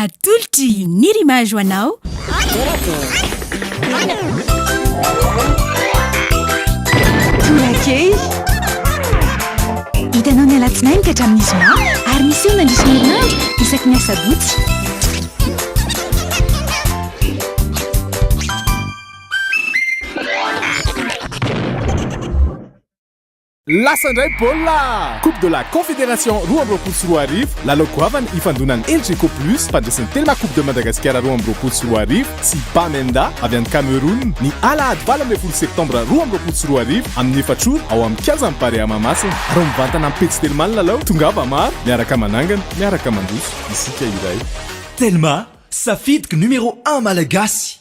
Atolotry i Nirimaj ho anao. Torakely. Hitanao ny alatsinainy ka hatramin'ny zoma ary miseho mandritra ny herinandro isaky ny asabotsy. Lasa indray baolina! Coupe de la Confédération roa amby roapolo sy roa arivo, lalao goavana ifandonan Elgeco Plus mpandresen'ny Telma Coupe de Madagasikara roa amby roapolo sy roa arivo sy Bamenda avy any Cameroun ny alahady valo ambin'ny folo septambra roa amby roapolo sy roa arivo amin'ny efatra ora ao amin'ny kianjan'ny Barea Mahamasina ary mivantana amin'ny pejy Telma ny lalao, tongava maro, miaraka manangana, miaraka mandroso isika iray. Telma, safidiko numéro un malagasy.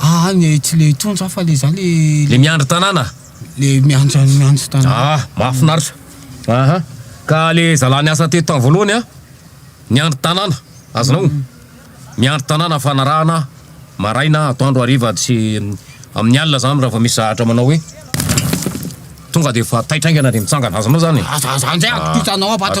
Ah le tsy le intsony za fa le za le. Le miandry tanàna? Le miandry miandry tanàna. Ah mahafinaritra. Aha ka le zalahy niasa teto tamin'ny voalohany an, niandry tanàna, azonao? Mm. Miandry tanàna fanarahana maraina, atoandro, hariva sy amin'ny alina zany raha vao misy zahatra manao hoe tonga de efa taitra haingana de mitsangana, azonao zany? Aza aza anjay ah, atokisanao ato.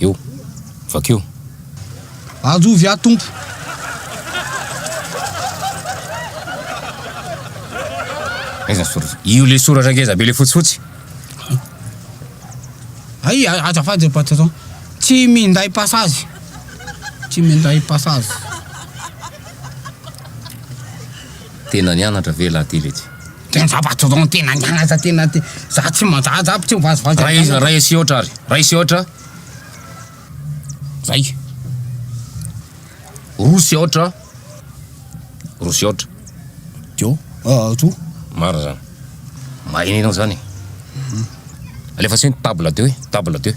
eo. Vakio. Anjovy aho tompo. Aiza soratra? Io le soratra ngeza be le fotsifotsy. Ay, azafady ry patron. Tsy minday passage. Tsy minday passage. Tena nianatra ve lahately ity? Tena zava-doza tena nianatra tena te za tsy manjaja aby tsy mivazivazy Ray an'izany. ray asia ohatra ary ray asia ohatra zay roa asia ohatra roa asia ohatra Dio ah to marina zany mahay nenao zany e alefaso eny table deux e table deux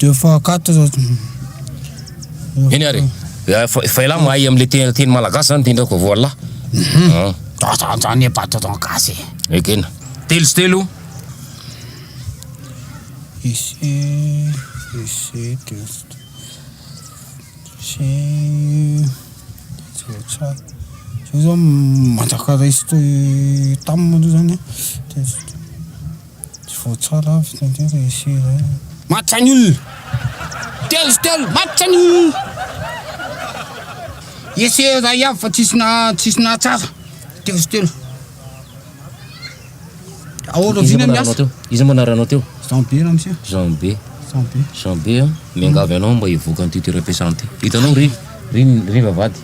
Deux fois quatre zao Eny ary e, fa fa ialahy mahay am'le te- teny malagasy zany ty ndreko vao ialahy. An, Za za za anie mba tonton gasy e. ekena. Telo sy telo. Ise ise test ise tsa zao zao manjaka resty tam moa zany test. Tsy voatsara avy teo indray ilay essai iray an! Matsa ny olona! Telo sy telo, matsa ny olona! Essai iray avy fa tsisy na tsisy nahatsara! Telo sy telo! Ahoana vina ny asa? Iza moa anaranao teo? Jean Be ramose. Jean Be. Jean Be. Jean Be a, miangavy anao mba hivoaka an'ity toeram-piasana ity. Hitanao ry. ry ry vavady.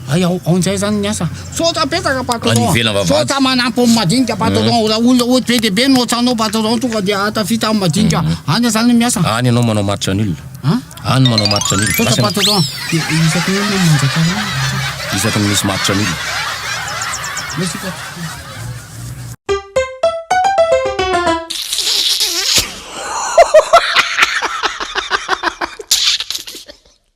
Hay ao ao njay zany ny asa. Misaotra betsaka patron. Any ivelany vavady. Misaotra manampy ny madinika patron. Raha olona ohatry be dia be no ohatranao patron tonga dia hahatafita amin'ny madinika. Any zany ny miasa. Any ianao manao maritra ny olona. An? Any manao maritra ny olona. Misaotra Asa patron. Dia isaky ny olona no manjaka anao. isaky ny misy maritra ny olona. Merci patron.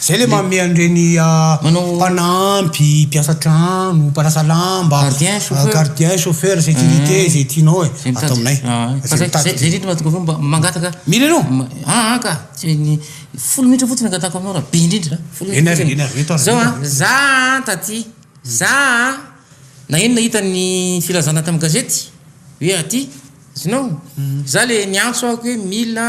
Zay le manome an'ireny mpanampy, mpiasa trano, mpanasa lamba, gardien, chauffeur, sécurité, zay tianao e, ato aminay. Fa zay, zay indrindra mahatonga anao mba mangataka. Mila anao? Aa ka, tsy ny folo minitra fotsiny angatahako aminao raha be indrindra a, folo minitra fotsiny. Enao, enao, zao a, za a taty, za a, nagnino nahita ny filazana tamin'ny gazety hoe aty, azonao? Za le niantso aho hoe mila.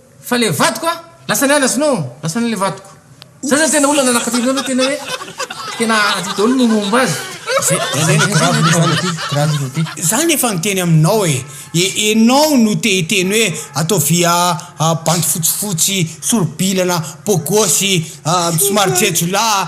Fa le vadiko a! Lasa niala izy no lasa an'le vadiko. Zay zany tena olona nanakatao anareo tena hoe tena aty daholo ny momba azy. Za no efa niteny aminao e! Enao no te hiteny hoe ataovy bandy fotsifotsy, soro-bilana, beau gosse, somary jejolahy.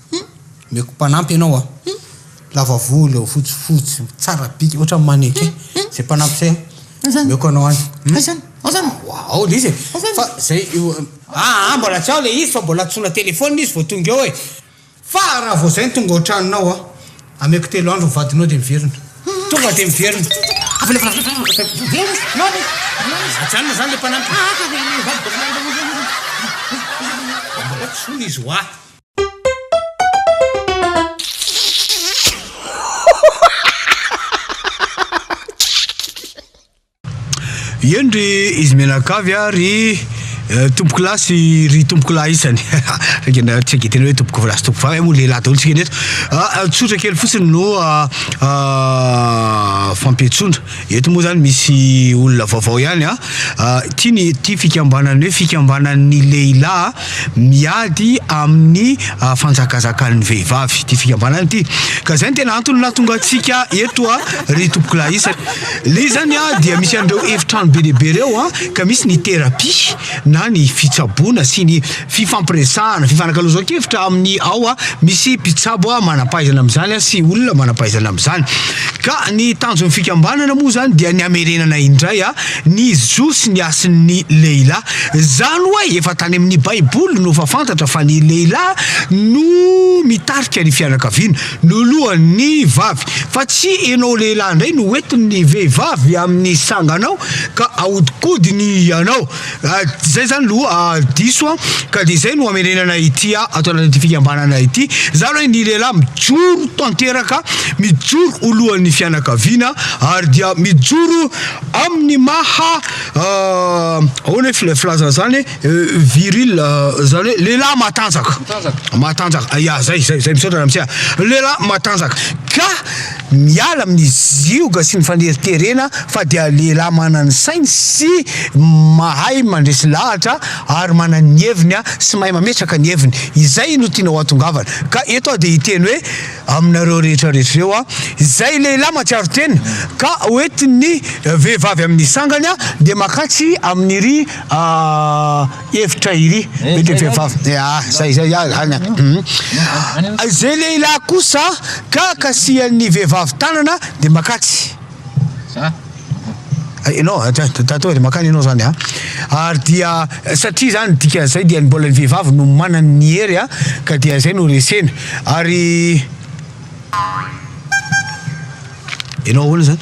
Hum omeko mpanampy ianao aho hum lava volo fotsifotsy tsara bika ohatran'ny mannequin zay mpanampy zay Azany. omeko anao any hum Azany. Azany. Wa- ao le izy e Azany. fa zay io aa mbola tsy ao le izy fa mbola antsoina telephone izy vao tonga eo e fa raha vao zay ny tonga ao an-tranonao aho ameko telo andro ny vadinao dia miverina tonga dia miverina ajanona zany le mpanampy mbola tsy ho izy wa Eny ry izy mianakavy a ry eh, tompoko lahy sy ry tompoko lahy isany Saika na- tsy agetena hoe tompoko lahy sy tompoko vavy eh, moa lehilahy daholo tsika ny eto Ah, ah, tsotra kely fotsiny no ah, ah, fampiantsoana Eto moa izany misy olona vaovao ihany an! Ity ny ity fikambanana hoe fikambanan'ny lehilahy miady amin'ny fanjakazakan'ny vehivavy ity fikambanana ity ka izay no tena antony nahatonga antsika eto an! Ry tompokolahy isany, ilay izy izany dia misy an'ireo efitrano be dia be ireo an! Ka misy ny terapia. na ny fitsaboana sy ny fifampiresahana, fifanakalozankevitra amin'ny ao a, misy mpitsabo a manampahaizana amin'izany a sy olona manampahaizana amin'izany. Ka ny tanjon'ny fikambanana moa izany dia ny hamerenana indray a ny zo sy ny hasin'ny lehilahy. Izany hoe efa tany amin'ny baiboly no efa fantatra fa ny lehilahy no mitarika ny fianakaviana. Lolohan ny vavy. Fa tsy enao lehilahy ndray no hoentin ny vehivavy amin ny sanganao ka ahodikodiny ianao. Zay zany loha diso an! Ka dia zay no amerenana ity ato anatin ity fikambanana ity. Zany hoe ny lehilahy mijoro tanteraka, mijoro ho lohan ny fianakaviana ary dia mijoro amin ny maha ahoana ny filazana izany e? Viril zany hoe lehilahy matanjaka. Matanjaka. Matanjaka. Ya, zay zay zay misaotra ramsia. Lehilahy matanjaka. Ka miala amin'ny zioga sy ny faneriterena fa dia lehilahy manana ny sainy sy mahay mandresy lahatra ary manana ny heviny a sy mahay mametraka ny heviny. Izay no tianao hahatongavana. Ka eto aho dia hiteny hoe aminareo rehetra rehetra ireo a, izay lehilahy matsiaro tena ka hoentin'ny vehivavy amin'ny sangany a dia makatry amin'iry Ah, efitra iry mety vehivavy ah zay zay ah zany ah hum izay lehilahy kosa ka kasihan'ny vehivavy tanana de makatsy ah ianao ah, ta- ta- tato de makany ianao zany ah ary dia satria zany dikan'izay dia ny mbola ny vehivavy no manana ny hery ah ka dia zay no resena ary ianao ahoana zany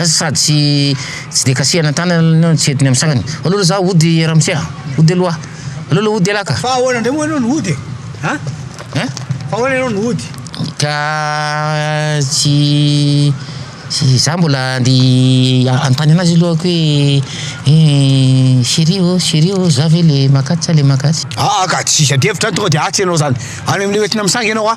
Sady tsy tsy dia kasihana an-tanana aloha ianao tsy entiny amin'ny sasany. Aleo aloha izaho hody ramose a! Hody aloha aho. Aleo aloha hody ialahy ka! Fa ahoana indray moa ianao no hody e? A? Hein? Fa ahoana ianao no hody? Ka tsy tsy izaho mbola andeha hanontany an'azy io lohako hoe eh chérie ô, chérie ô, izaho ve ilay makaty sa ilay makaty? Aa ka tsisy adihevitra any tonga dia atsy ianao izany. Any amin'ilay ho entina misangy ianao a!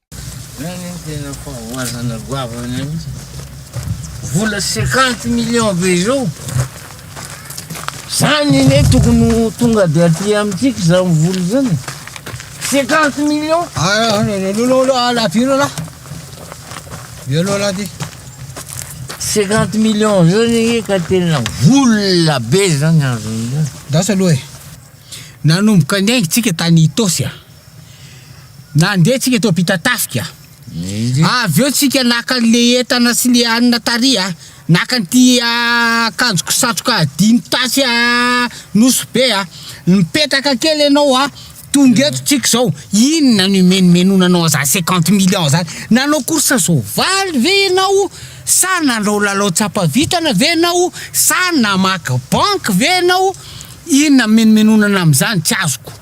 Zany no tena fahavoazana goavana mihitsy. Vola cinquante millions be izao. Zany ne tokony ho tonga dia aty amintsika izany vola izany. Cinquante millions. Ah, lolo ala piro la. Dia lolo aty. Cinquante millions zany ka tena vola be zany azon'izany. Dasa aloha e. Nanomboka niainga tsika tany Itosy a. Nandeha tsika teo Ampitatafika, avy eo tsika naka le entana sy le hanina tary a, naka an'ity akanjoko satroka dimy tasy a Nosy be a, mipetraka kely ianao a, tonga eto tsika zao, inona no imenomenona anao zany cinquante millions zany, nanao course soavaly ve ianao sa nanao lalao tsapa vintana ve ianao sa namaky banky ve ianao, inona mimenomenona anao am'zany tsy azoko.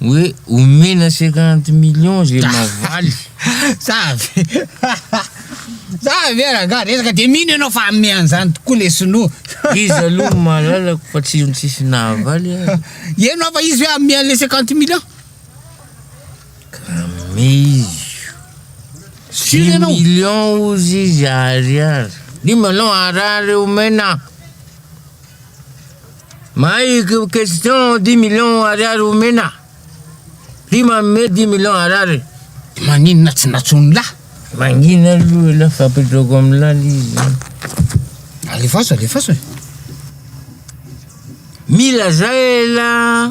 Hoe omena cinquante millions ze mavaly. Za avy Za avy e rangah resaka de mino enao fa ame anzany tokoa le sinoa. Izy aloha no malalako fa tsy io tsisy nahavaly azy. Eno aho fa izy hoe ame anle cinquante millions. Ame izy io. Dimy millions ozy izy ariary. Dimy anao ariary omena. Mahay question dix millions ariary omena Ty manome dix millions ariary Maninona tsy natsoin'ny lahy Mangina aloha elah fa apetrako amin'ny lala izy Alefaso alefaso e Mila zay elah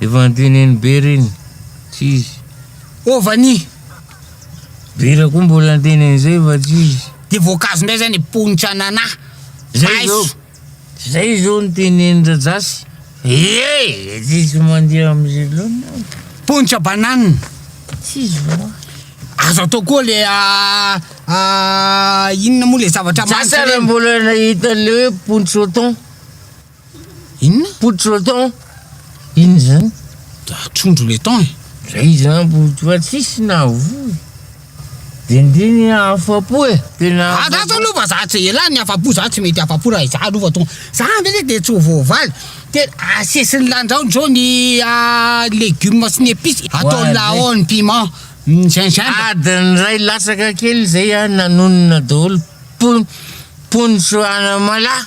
Efa anty nenibe reny, tsy izy. Ô vani! Vera koa mbola anty nenizay fa tsy izy. Dia voankazo indray izay ny ponitra ananà. Zay izao, zay izao ny tenenin'i Rajasy. Ee! Tsy izy mandeha amin'izay loatra aho. Ponitra banane. Tsy izy va? Azo atao koa le inona moa le zavatra manitra reny. Sasany mbola nahita an'ilay hoe pontsôton. Inona? Poudre le thon. Inona izany? Trondro le thon e. Zay izany poudre fa tsisy nahavoa. Dindiny afapo e. Tena afapo. Za zao lova za tsy ela ny afapo za tsy mety afapo raha izaho lova tonga. Za ndreka dia tsy ho voavaly. Tena asesiny lanjaony zao ny legumes sy ny epices. Atao laon piment. Gingembre. Adiny iray latsaka kely zay aho nanonona daholo. Pon- ponitro anamalaho.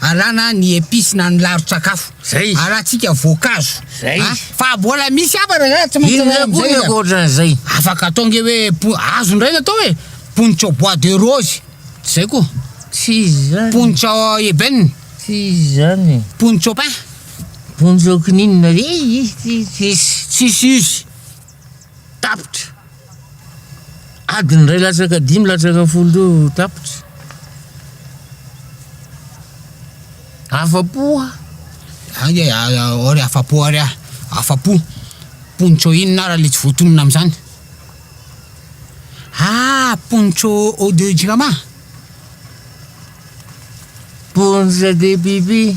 Alana ny epice na ny laron-tsakafo. Zay izy. Alantsika voankazo. Zay izy. A, fa mbola misy hafa raha tsy maintsy Inona koa ny ankoatran'izay? Afaka atao nge hoe po- azo indray ny atao e. Pontsao bois de rose. Tsy zay koa. Tsy izy izany. Pontsao ébène. Tsy izy izany e. Pontsao pin. Pontsao kininina. Izy tsy izy. Tsisy izy. Tapitra! Adiny iray latsaka dimy latsaka folo teo tapitra. Afa-po aho. Ay, ay, ao re afa-po ary aho. Afa-po. Poncho inona ary ilay tsy voatonona amin'izany? Ah, poncho eau de jirama. Poncho de pipi.